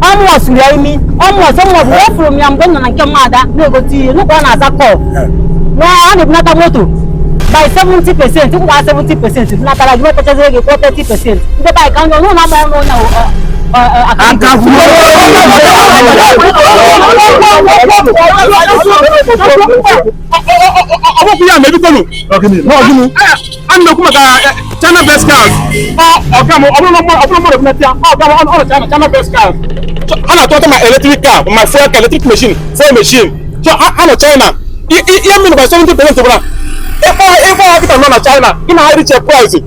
ọ mụwa siri ya imi ọ mụwa sọ mụwa bụ ọ fụrụ m ya mgbe m nọ na nke mmadụ na-egote ihe n'ụkọ ọ na-aza call na a na-ebunata moto by 70 percent ị kwụọ 70 percent natara gị wetachazie gị kwụọ 30 percent ndị bike ndị ọnụ na-agba ọnụ onye ọkpụkpụ ya mebikonu n'ọdịnu a na-ekwu maka china best cars ọga m ọ bụrụ mmadụ bunata ọga m ọrụ china china best cars a na-atụ moto ma electric car ma fuel car electric machine fuel machine so a nọ china ihe mmiri by 70 percent bụla ị kwụọ ị kwụọ kịta nọ na china ị na-ahịrị che price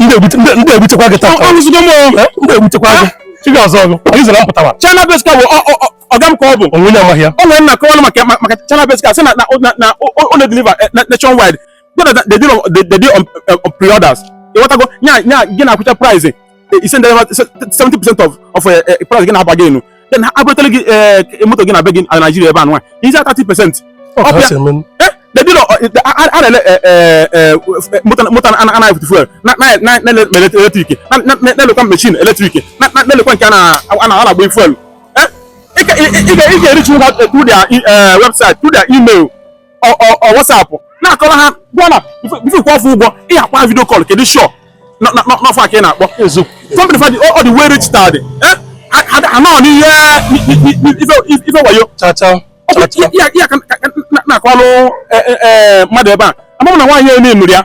ndị egbuchekwa gị taa ọrụzigo m ndị egbuchekwa gị chi ga-azọ ọgụ anyị zara mpụtara china best car bụ ọga m ka ọ bụ o nwe onye amaghị ya o wee na-akọwa maka maka china best car sị na na o na-edeliver nationwide they deal on they deal on pre-orders ị ghọtago nya nya gị na ha kwuchaa price i sendị 70 percent of of price gị na-aba gị enu then ha ebutara gị eh, moto gị na be gị na Naịjirịa ebe a nwa i zie 30 percent they deal a na-ele moto anaghị fụtụ fuel na-ele electric na-elekwa machine electric na-elekwa nke a na-agba fuel ị ga-ereachinwu ha through their website through their email or whatsapp na-akọrọ ha gwa na before ị kwụọ fa ụgwọ ị ya-akpọ video call ka ị dị sure na ọ fa ka ị na-akpọ company fa dị ọ dị well registered ha nọ n'ihe ife wayo ya ka na-akọlụ mmadụ ebe a ama m na nwaanyị onye nụrụ ya